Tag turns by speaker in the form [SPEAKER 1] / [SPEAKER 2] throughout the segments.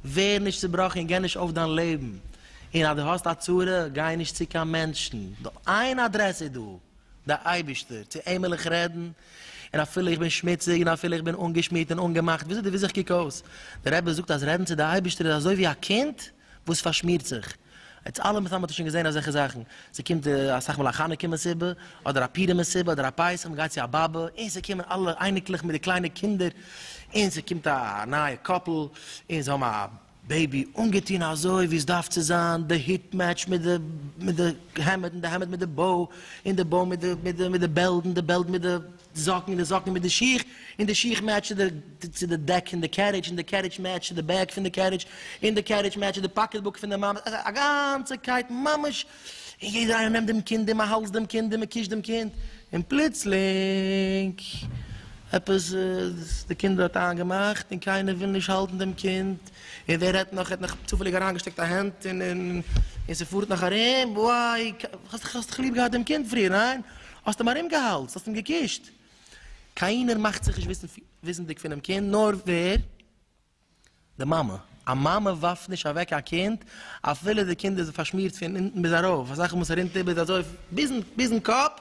[SPEAKER 1] ווער נישט צובראכן און גיי נישט אויף דיין לעבן, און אז דו האסט א צרה גיי נישט צו קיין מענטשן, נאר איין אדרעס איז דא. דער אייבערשטער, צו אים וויל איך רעדן, און אפילו איך בין שמוציג, און אפילו איך בין אנגעשמירט און אנגעמאכט, וויאזוי די וויסט איך קוק אויס? דער רבי זאגט אז רעדן צו די אייבערשטער איז אזוי ווי א קינד וואס פארשמירט זיך, אונז אלע מסתם האט איר שוין געזען אזעלכע זאכן, ס'קומט אסאך מאל א חנוכה מסיבה, אדער א פורים מסיבה, אדער א פסח, מ'גייט צו א באבע, און ס'קומען אלע אייניקלעך מיט די קליינע קינדער, און ס'קומט א נייע קאפל, און זיי האבן א בעיבי, אנגעטון אזוי ווי עס דארף צו זיין, די הוט מעטשט מיט די מיט די העמד, און די העמד מיט די באו, און די באו מיט די מיט די מיט די בעלד, און די בעלד מיט די זאקן, און די זאקן מיט די שיך, און די שיך מעטשט צו די צו די דעק פון די קערידזש, און די קערידזש מעטשט צו די בעק פון די קערידזש, און די קערידזש מעטשט צו די פאקעטבוק פון די מאמע, א גאנצע קייט ממש און יעדער איינער נעמט דעם קינד און מען האלדזט דעם קינד און מען קושט דעם קינד, און פלוצלינג עפעס די קינד האט איינגעמאכט און קיינער וויל נישט האלטן דעם קינד, און ווער רעדט נאך ער האט נאך צופעליג אריינגעשטעקט א הענט און און ס'פארט נאך ארום, וויי האסט דאך ליב געהאט דעם קינד פריער ניין? האסט אים ארומגעהאלדזט האסט אים געקושט, קיינער מאכט זיך נישט וויסנדיג פונעם קינד נאר ווער? די מאמע. א מאמע ווארפט נישט אוועק א קינד אפילו די קינד איז פארשמירט פון אונטן ביז ארויף, אזא זאך וואס רינט איבער אזוי ביזן ביזן קאפ,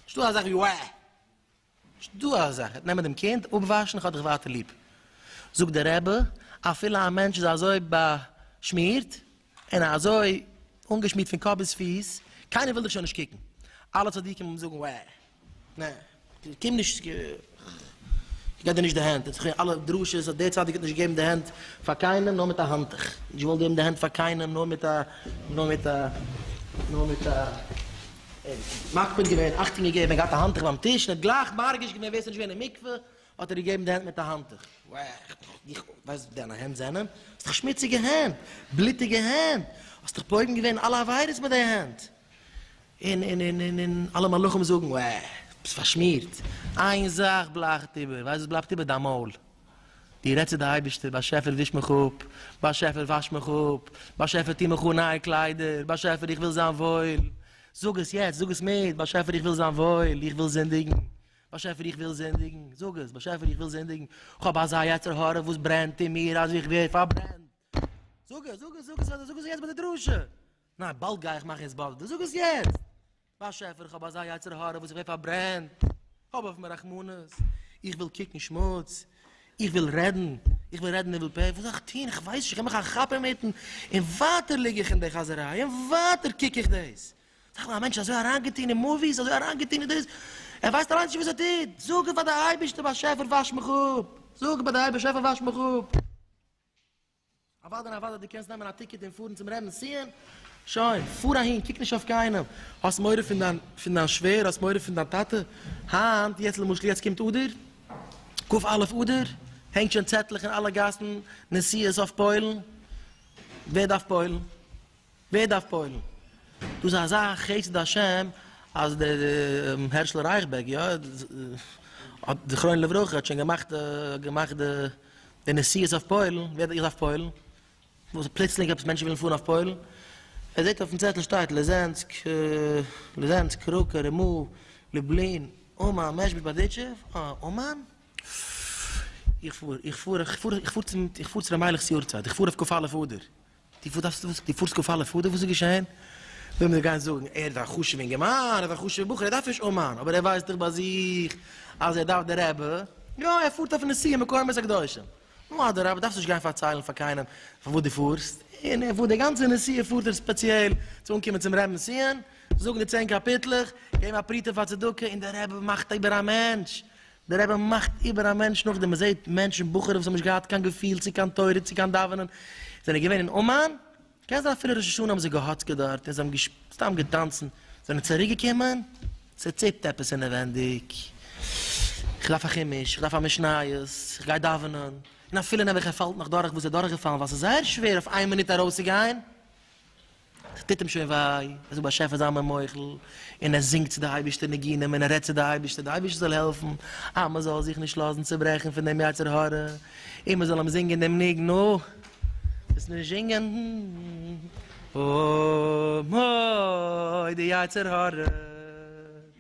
[SPEAKER 1] נישט דא אזאך ווי וועה! נישט דא אזא זאך, גייט נעמען דעם קינד אפוואשן איך האב דיך ווייטער ליב. זאגט דער רבי, אפילו א מענטש איז אזוי באשמירט, און אזוי אנגעשמירט פון קאפ ביז פיס, קיינער וויל דיך שוין נישט קוקן, אלע צדיקים וועלן זאגן וואו, נע, קום נישט, כ'גיב דיר נישט די הענט, און ס'כווערן אלע דרשות אז דער צדיק האט נישט געגעבן די הענט פאר קיינעם נאר מיט א האנטוך, נישט געוואלט געבן די הענט פאר קיינעם נאר מיט א, נאר מיט א, נאר מיט א, מקפיד געווען, אכטונג געגעבן, געהאט א האנטוך ביים טיש, און האט גלייך מרגיש געווען ווער ס'נישט געווען אין מקווה, האט ער געגעבן די הענט מיט א האנטוך. איך ווייס וואס דיינע הענט זענען, האסט דאך שמוציגע הענט, בלוטיגע הענט, האסט דאך פוגם געווען אלע עבירות מיט די הענט, און און און און און אלע מלאכים זאגן, וע, ביסט פארשמירט, איין זאך בלייכט איבער, ווייסט וואס בלייבט איבער? דיין מויל, דו רעדסט צו די אייבערשטער, באשעפער וויש מיך אפ, באשעפער וואש מיך אפ, באשעפער טוה מיך אן נייע קליידער, באשעפער איך וויל זיין וואויל, זאג עס יעצט, זאג עס מיט, באשעפער איך וויל זיין וואויל, איך וויל זינדיגן. באשעפער איך וויל זינדיגן, זאג עס, באשעפער איך וויל זינדיגן, כ'האב אזא יצר הרע וואס ברענט אין מיר אז איך ווער פארברענט, זאג עס, זאג עס, זאג עס אדער זאג עס יעצט ביי די דרשה, ניין באלד גיי איך מאכן התבודדות, זאג עס יעצט, באשעפער איך האב אזא יצר הרע וואס איך ווער פארברענט, האב אויף מיר רחמנות, איך וויל קוקן שמוץ, איך וויל רעדן, איך וויל רעדן ניבול פה, וואס זאל איך טון, איך ווייס נישט, איך גיב מיך א כאפ אינמיטן, און ווייטער ליג איך אין די חאזעריי, און ווייטער קוק איך דאס. זאג נאר, א מענטש איז אזוי אריינגעטון אין מאוויס, אזוי אריינגעטון אין דאס, ער ווייסט אליינס נישט וואס ער טוט, זאג פאר די אייבערשטער באשעפער וואש מיך אפ, זאג פאר די באשעפער וואש מיך אפ. אוודאי אוודאי דו קענסט נעמען א טיקעט און פארן צום רעבינ'ס ציון, שוין, פאר אהין, קוק נישט אויף קיינעם, האסט מורא פון דיין פון דיין שווער, האסט מורא פון דיין טאטע, היינט, יעצט למשל יעצט קומט אדר, כ א אדר, הענגט שוין צעטלעך אין אלע גאסן, נסיעות אויף פוילן, ווער דארף פוילן? ווער דארף פועל'ן? דאס איז אזא חסד השם אז דער הערשל רייכבערג, יא, האט זכרונו לברכה, האט שוין געמאכט געמאכט די נסיעות אויף פוילן, ווער דארף איך דארף פוילן? וואס פלוצלינג עפעס מענטשן ווילן פארן אויף פוילן? ער זעט אויפן צעטל שטייט ליזענסק, ליזענסק, קראקע, רימא, לובלין, אומאן, מעזשביזש, בארדיטשוב, אה, אומאן? איך פאר, איך פאר, איך פאר, איך פאר צום, איך פאר צו ר' מיילעך'ס יארצייט, איך פאר אויף כ א לפאר דער, די וואס דארפסטו וואס? די פארסט קאפאלע פאדער וואס איז געשעהן? וועלן מיר גיין זאגן ער איז א חשוב אינגערמאן ער איז א חשוב בחור ער דארף נישט אומאן אבער ער ווייסט דאך ביי זיך אז ער דארף די רעבע יא ער פארט אויף נסיעה מקומות הקדושים נו אדרבה דארפסט נישט גיין פארציילן פאר קיינעם פאר וואס די פארסט און ער פארט די גאנצע נסיעה פארט ער ספעציעל צו אנקומען צום רעבן ציון זאגן די צען קאפיטלעך געבן א פרוטה פאר צדקה און די רעבע מאכט איבער א מענטש דער רבי מאכט איבער א מענטש נאכדעם מען זעהט מענטשן בחורים וואס האבן נישט געהאט קיין געפיל צו קיין תורה צו קיין דאווענען זענען געווען אין אומאן קען זיין אפילו ראש השנה האבן זיי געהאצקעט דארט און זיי האבן סתם געטאנצן זענען צוריק געקומען צוציפט עפעס אינעווענדיג איך דארף א חימוש איך דארף א משניות איך גיי דאווענען און אפילו נעבעך ער פאלט נאך דורך וואס ער דורך געפאלן ווייל ס'איז זייער שווער אויף איין מינוט ארויס צו גיין ס'טוט אים שוין וויי, ער זאגט באשעפער זיי מיר מוחל, און ער זינגט צו די אייבערשטער ניגונים און ער רעדט צו די אייבערשטער די אייבערשטער זאל העלפן אז מען זאל זיך נישט לאזן צוברעכן פון דעם יצר הרע, און מען זאל אים זינגען דעם ניגון או דאס נישט זינגען או מו די יצר הרע.